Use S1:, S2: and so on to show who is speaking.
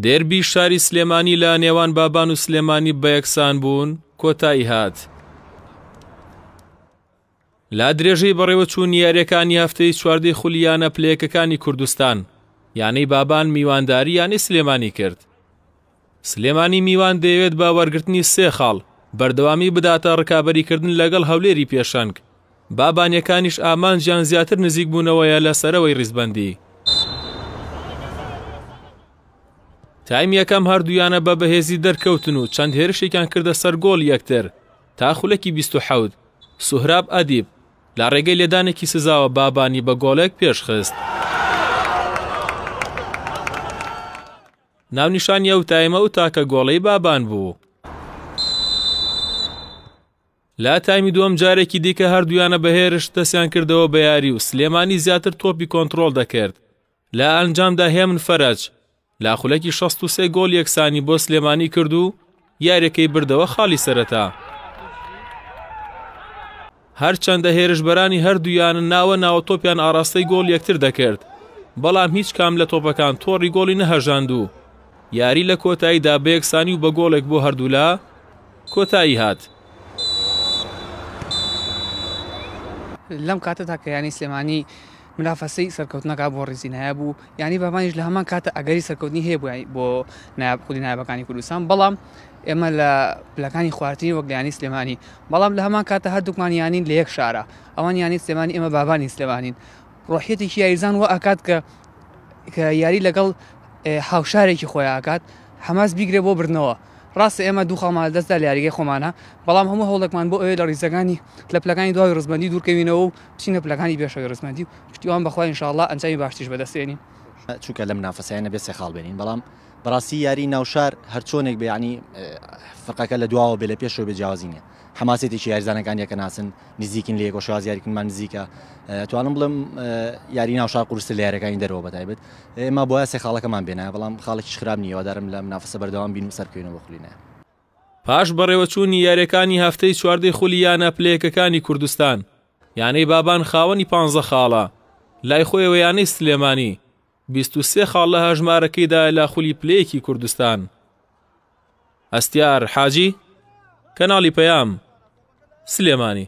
S1: دێربی شاری سلێمانی لە نێوان بابان و سلێمانی بەیەکسان بوون کۆتایی هات. لا درێژەی بەڕێوەچوون یاریەکانی هەفتەی چواردەی خولیانە پلەیەکەکانی کوردستان یانەی بابان میوانداری یانەی سلێمانی کرد سلێمانی میوان دەیەوێت بە وەرگرتنی سێ خاڵ بەردەوامی بداتە ڕکابەریکردن لەگەڵ هەولێری پێشەنگ، بابانییەکانیش ئامانجیان زیاتر نزیکبوونەوەیە لە سەرەوەی ڕیزبەندی. تایم یەکەم هەردوویانە بە بەهێزی دەرکەوتن و چەند هێرشێکیان کردە سەر گۆڵی یەکتر تا خولەکی بیست و حەوت، سوهراب ئەدیب لە ڕێگەی لێدانێکی سزاوە بابانی بە گۆڵێک پێشخست. ناونیشانی ئەو تایمە و تاکە گۆڵەی بابان بوو. لە تایمی دووەم جارێکی دیکە هەردوویانە بە هێرش دەستیان کردەوە بە یاری و سلێمانی زیاتر تۆپی کۆنترۆڵ دەکرد لە ئەنجامدا هێمن فەرەج لا خولەکی 63 گۆڵ یەکسانی بۆ سلێمانی کرد و یاریەکەی بردەوە خاڵی سەرەتا. هەرچەندە هێرشبەرانی هەردوویان ناوە ناوە تۆپیان ئاراستەی گۆڵ یەکتر دەکرد بەڵام هیچ کام لە تۆپەکان تۆڕی گۆڵی نەهەژاند و یاری لە کۆتاییدا بەیەکسانی و بە گۆڵێک بۆ هەردوولا کۆتایی هات.
S2: لەم کاتەدا کە یانی سلێمانی منافەسەی سەرکەوتنەکە بۆ ڕیزی نایاب و یانەی بابانیش لە هەمان کاتە ئەگەری سەرکەوتنی هەیە بۆ بۆ نایاب خودی نایابەکانی کوردستان بەڵام ئێمە لە پلەکانی خوارترین وەک یانی سلێمانی بەڵام لە هەمان کاتە هەردووکمان یانین لە یەک شارە ئەوان یانی سلێمانی ئێمە بابانی سلێمانین ڕۆحیەتێکی یاریزان و ئاکات کە کە یاری لەگەڵ هاوشارێکی خۆیان ئاکات حەماس بیگرێ بۆ بردنەوە ڕاستە ئێمە دوو خاڵمان لەدەستدا لە یاریگەی خۆمانە، بەڵام هەموو هەوڵێکمان بۆ ئەوەیە لە ڕیزەکانی لە پلەکانی دواوەی ڕیزبەندی دوورکەوینەوە و بچینە پلەکانی پێشەوەی ڕیزبەندی و پشتیوان بە خوا ان شاء اللە ئەنجامی باشتریش بەدەستێنین. چونکە لە
S3: منافەسەیە نەبێ سێ خاڵ بێنین، بەڵام بەڕاستی یاری ناو شار هەرچۆنێک بێ یانی فرقەکە لە دواوە بێ لە پێشەوە بێ جیاوازی نیە. حەماسێتێکی یاریزانەکان یەکە ناسن نزیکن لە یەکۆ شاز یاریکنمان نزیکە توانم بڵم یاری ناو شار قورسە لە یارەکانی دەرەوە بەتایبێت ئێمە بۆە سێ خاڵەکەمان بێنە بەڵام خاڵێکی خراپ نیەوەدارم لە منافسە بەردەوام بین و سەرکەینەوە خولینە پاش
S1: بەڕێوەچوونی یاریەکانی هەفتەی چواردەی خولی یانە پلەیەکەکانی کوردستان یانەی بابان خاوەنی پانزە خاڵە لای خۆیەوە یانەی سلێمانی بیست و سێ خاڵ لە هەژمارەکەیدایە لە خولی پلەیەکی کوردستان هەستیار حاجی کەناڵی پەیام سلێمانی